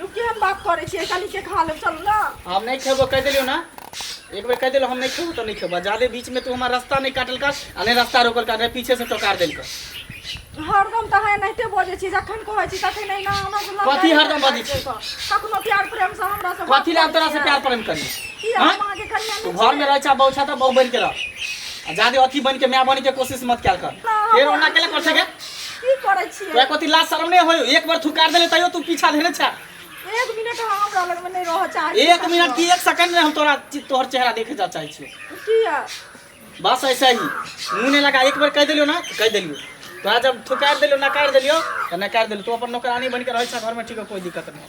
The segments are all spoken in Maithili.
यौ केहन बात करै छियै कनी के खा लेब चलू ना हम नहीं खेबो कह दिलियो ना एक बेर कह दिलो हम नहीं खेबो तो नहीं खेबो जादे बीच में तू हमार रास्ता नहीं काटल कर आ नहीं रास्ता रोकल कर नहीं पीछे से टोकार देल कर हरदम तऽ है नहिते बजै छी जखन कहै छी तखन नहि ना हमरा से लड़ाइ कथी हरदम बजै छी? कखनो प्यार प्रेम से हमरा से कथी ला हम तोरा से प्यार प्रेम करी की हाँ? हम अहाँके कनिया तू नहि घर में रह छा बहु छा तो बहु बन के रह आ जादे अथी बन के मैं बन के कोशिश मत क्या कर ना, फिर ओना केले कर सके की करै छियै तोरा कथी लाज शरम नहि होयो एक बार थुकार देले तैयो तू पीछा धरे छा एक मिनट हम हमरा लग में नहीं रह चाहे एक मिनट की एक सेकंड में हम तोरा तोहर चेहरा देखे जा चाहे छियो किया बस ऐसा ही मुंह नहीं लगा एक बार कह देलियो ना तो कह देलियो तोरा जब थुकार देलियो नकार देलियो तो नकार देलियो तू अपन नौकरानी बन के रह छा घर में ठीक है कोई दिक्कत नहीं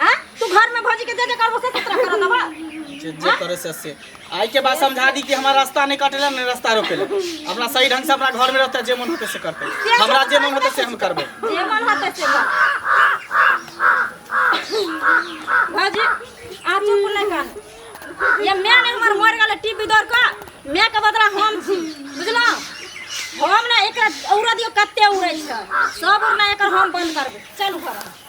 आ तू घर में भौजी के जे जे करबो से सतरा कर दबा जे जे करे से से आई के बाद समझा दी कि हमारा रास्ता नहीं कटेला नहीं रास्ता रोकेला अपना सही ढंग से अपना घर में रहते जे मन होते से करते हमरा जे मन होते से हम करबे जे मन होते से कर भौजी आ चुप नहीं कर ये मैं ने हमर मर गेल टीवी दौड़ का मैं के बदला हम छी बुझलो हम ना एकरा औरा दियो कते उड़ै छै सब उड़ना एकर हम बंद करबे चल घर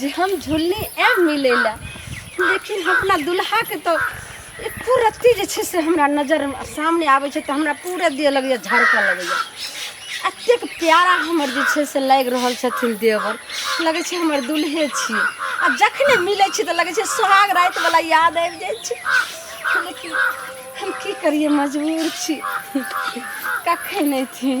जे हम झुल्ली आयब मिलै लए लेकिन अपना दुल्हाके तऽ एको रत्ती जे छै से हमरा नजर सामने आबै छै तऽ हमरा पूरा देह लगैए झड़कऽ लगैए एतेक प्यारा हमर जे छै से लागि रहल छथिन देवर लगै छै हमर दुल्हे छी आ जखने मिलै छी तऽ लगै छै सोहाग रातिवला याद आबि जाइ छै लेकिन हम की करिए मजबूर छी कखन अयथिन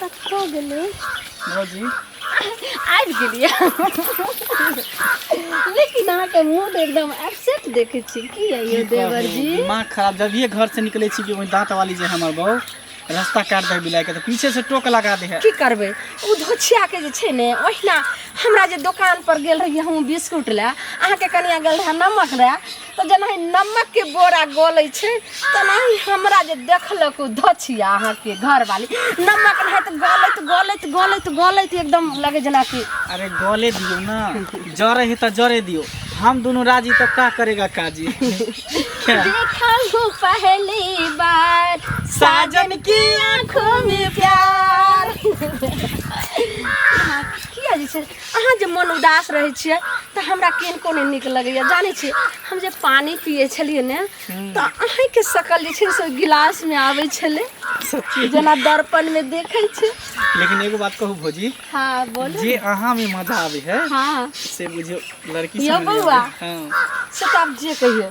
कतऽ गेलै भौजी आबि गेलियै लेकिन अहाँके मूड एकदम अपसेट देखै छी की यौ की देवर कहू, जी दिमाग खराब जब ये घर से निकले छी कि वही दांत वाली जे हमर बहू रास्ता काट दे बिलाय के तो पीछे से टोक लगा दे है की करबै ओ धोछियाके जे छै ने ओहिना हमरा जे दोकानपर गेल रहियै हम बिस्कुट लए अहाँके कनिया गेल रहए नमक लए तऽ जेनाहि नमक के बोरा गलै छै तेनाहि हमरा जे देखलक ओ धछिया अहाँके घरवाली नमक नहि तऽ गलैत गलैत गलैत गलैत एकदम लगे जेनाकि अरे गले दियो ना जरे है तो जरे दियो हम दोनों राजी तो का करेगा काजी क्या? देखा हूँ पहली बार साजन की आंखों में प्यार किया जी छै अहाँ जे मन उदास रहै छियै तऽ हमरा किनको नहि नीक लगैए जानै छियै हम जे पानि पियै छलियै ने तऽ अहीँके शकल जे छै से गिलासमे आबै छलै सच्ची जेना दर्पणमे देखै छै लेकिन एगो बात कहू भौजी हँ बोलू जे अहाँ में मजा आवे है हँ से बुझियो लड़की यौ सब में नहीं बौआ। आवे है। हाँ। से तऽ आब जे कहियौ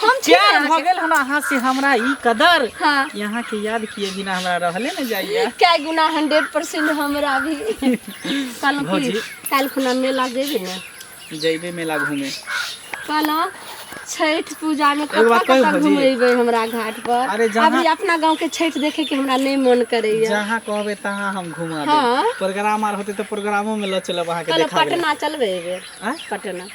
हम छी प्यार अहाँके। भऽ गेल हन अहाँ से हमरा ई कदर हाँ। कि अहाँ के याद किए बिना हमरा रहले न जाइए क्या गुना हंड्रेड परसेंट हमरा भी कहलहुँ भौजी। कि काल्हि खुना मेला जेबी ने जैबे मेला घूमे कहलहुँ छठि पूजामे एगो बात कतऽ कहू कतऽ भौजी? घुमेबै हमरा घाट पर अरे जहाँ- अभी अपना गाँव के छठि देखे के हमरा नहीं मन करैया जहाँ कहबे तहाँ हम घुमा हाँ। देब प्रोग्राम आर होते तो प्रोग्रामो में ल चलब अहाँ के कहलहुँ देखा देब पटना चलबै एहि बेर आँय? पटना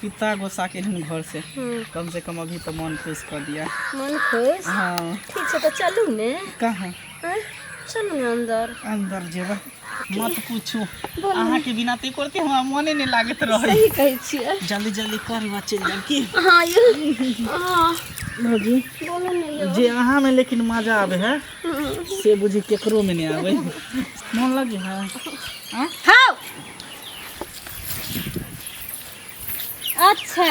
पिता गोसा के एहन घर से कम से कम अभी तो मन खुश कर दिया मन खुश हाँ ठीक छै तऽ चलू ने कहाँ आँय, चलू ने अन्दर अंदर जेबा मत पूछू अहाँ के बिना ते करते हमरा मने नहीं लागत रहे सही कहै छियै जल्दी जल्दी कर बा चल जाब की हँ यौ हँ भौजी बोलू ने यौ जे अहाँ में लेकिन मजा आवे है से बुझी केकरो में नहीं आवे मन लगे है हाँ अच्छा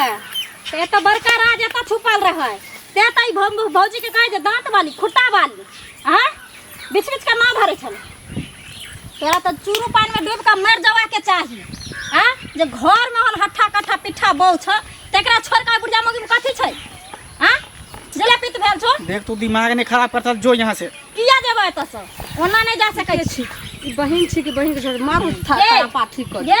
तो ये तो बड़का राज एत छुपल रहे ते तो ई भौ- भौजी के कहे जे दांत वाली खुट्टा वाली हाँ बीच बीच के ना धरे छल तोरा तो चूरू पान में डूब के मर जावा के चाही हाँ जे घर में हल हट्ठा कट्ठा पिट्ठा बौ छ तेकरा छोड़ के बुढ़िया मौगी में कथी छै हाँ जले पित भेल छो देख तू दिमाग नहीं खराब करता जो यहाँ से किया जेबै एतऽ से ओना नहि जा सकै छी ई बहिन छी कि बहिन के छोड़ मारू था ए! तारा पाठी कर ये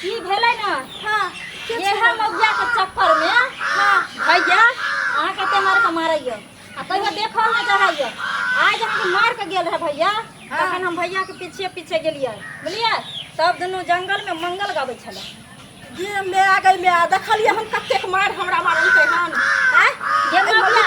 की भेलै ने हाँ ये हम मौजा के चक्कर में हाँ भैया अहाँ कते मार के मारैया आ तैयो देखल नहि रहैया आइ जब हम मार के गेल रहे भैया तखन हम भैया के पीछे पीछे गेलियै बुझलियै तब दुनू जंगल में मंगल गाबै छलै जे मैं आ गई मैं देखलिए हम कतेक मार हमरा मारल के हन हैं ये मौजा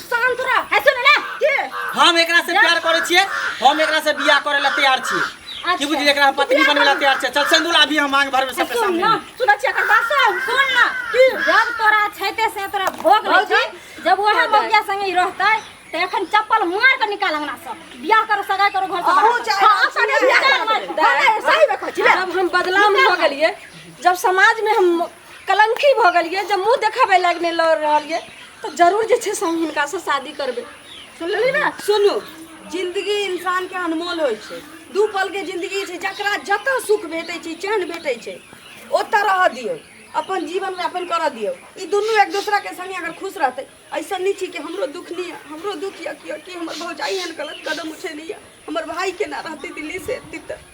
शांत रह है सुन ना के हम एकरा से प्यार करे छिए हम एकरा से बियाह करे ला तैयार छिए की बुझी एकरा हम पत्नी बने ला तैयार छिए चल सिंदूर अभी हम मांग भर में सबके सुन सामने ना सुन छिया कर बात सुन सुन ना की जब तोरा छैते से तोरा भोग ले छै जब वह बगिया संगे ही रहतै त एखन चप्पल मार के निकाल अंगना से बियाह करो सगाई करो घर से अहू बाहर। चाहे हाँ, बात सगाई सुने बियाह कर मार। हाँ, सही में कहै छी, ले। जब हम बदलाव में हो गेलिए जब समाज में हम कलंकी भऽ गेल यऽ जब मुँह देखाबे लायक नहि लड़ रहल यऽ तो जरूर जे छै से हम हिनका से शादी करबे सुनलियै ने सुनू जिंदगी इंसान के अनमोल होइ छै दू पल के जिंदगी छै जकरा जतऽ सुख भेटै छै चैन भेटै छै ओतऽ रहऽ दियौ अपन जीवन यापन करऽ दियौ ई दुनू एक दोसरा के संगे अगर खुश रहतै ऐसा नहि छै कि हमरो दुख नहि यऽ हमरो दुख यऽ कि कि हमर भौजाई एहन गलत कदम उठेने यऽ हमर भाई केना रहतै दिल्ली से एतै तऽ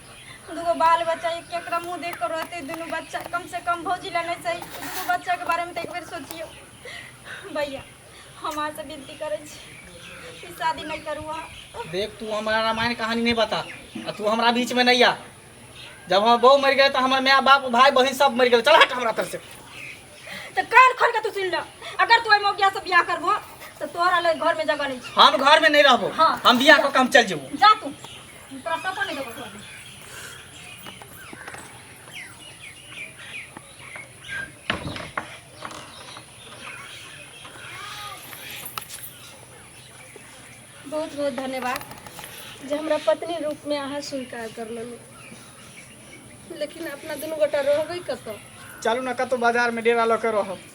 दूगो बाल बच्चा एक केकरा मुँह देख कर रहते दुनू बच्चा कम से कम भौजी ला नहीं सही दुनू बच्चा के बारे में तो एक बेर सोचियो भैया हम अहाँ से विनती करे छी ई शादी नहीं करू अहाँ देख तू हमारा रामायण कहानी नहीं बता आ तू हमारा बीच में नहीं आ जब हम बहू मर गए तो हमारे माँ बाप भाई बहन सब मर गए चल हट हमारा तरफ से तो कान खोल के तू सुन लो अगर तू एम गया से बियाह करबो तो तोरा ले घर में जगह नहीं छै। हम घर में नहीं रहबो हाँ। हम बिया को काम चल जेबो जा तू बहुत बहुत धन्यवाद जे हमरा पत्नी रूपमे अहाँ स्वीकार कर लेलहुँ लेकिन अपना दुनू गोटा रहबै कतऽ चलू ने कतहु बाजारमे डेरा लऽ कऽ रहब